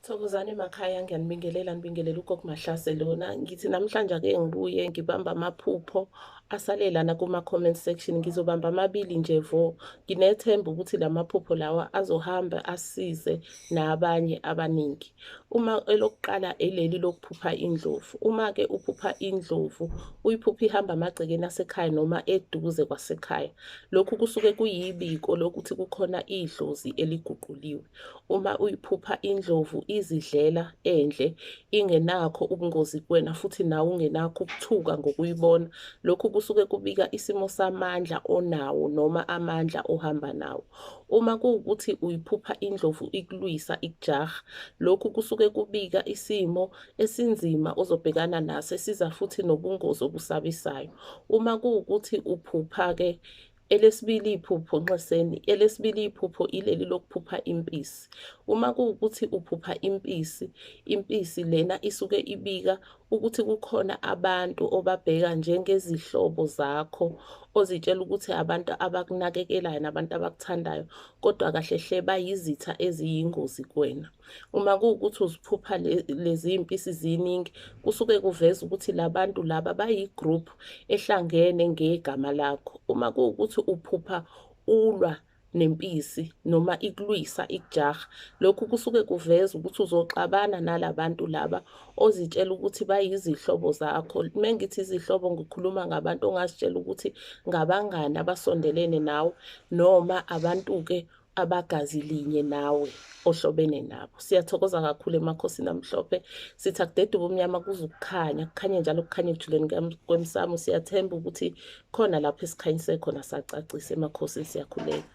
Thokozani emakhaya ngiyanibingelela nibingelela ugogo Mahlase lona ngithi namhlanje ake ngibuye ngibamba amaphupho asale lana kuma comment section ngizobamba amabili nje vo nginethemba ukuthi lamaphupho lawa azohamba asize nabanye abaningi uma elokuqala eleli lokuphupha indlovu uma ke uphupha indlovu uyiphupha ihamba amagcekeni asekhaya noma eduze kwasekhaya lokhu kusuke kuyibiko lokuthi kukhona idlozi eliguquliwe Uma uyiphupha indlovu izidlela endle ingenakho ubungozi kuwena futhi nawe ungenakho ukuthuka ngokuyibona, lokhu kusuke kubika isimo samandla onawo noma amandla ohamba nawo. Uma kuwukuthi uyiphupha indlovu ikulwisa ikujaha, lokhu kusuke kubika isimo esinzima ozobhekana naso esiza futhi nobungozi obusabisayo. Uma kuwukuthi uphupha-ke Elesibili iphupho nxeseni, elesibili iphupho ileli lokuphupha impisi. Uma kuwukuthi uphupha impisi, impisi lena isuke ibika ukuthi kukhona abantu obabheka njengezihlobo zakho ozitshela ukuthi abantu abakunakekelayo nabantu abakuthandayo kodwa kahle hle bayizitha eziyingozi kuwena. Uma kuwukuthi uziphupha lezi mpisi ziningi kusuke kuveza ukuthi labantu laba bayi-group ehlangene ngegama lakho. Uma kuwukuthi uphupha ulwa nempisi noma ikulwisa ikujaha lokhu kusuke kuveza ukuthi uzoxabana nalabantu laba ozitshela ukuthi bayizihlobo zakho mengithi izihlobo ngikhuluma ngabantu ongazitshela ukuthi ngabangani abasondelene nawe noma abantu ke abagazi linye nawe ohlobene nabo siyathokoza kakhulu emakhosini amhlophe sithi akudede ubumnyama kuze ukukhanya kukhanye njalo kukhanye ekujuleni kwemsamo siyathemba ukuthi khona lapho esikhanyise khona sacacisa emakhosini siyakhuleka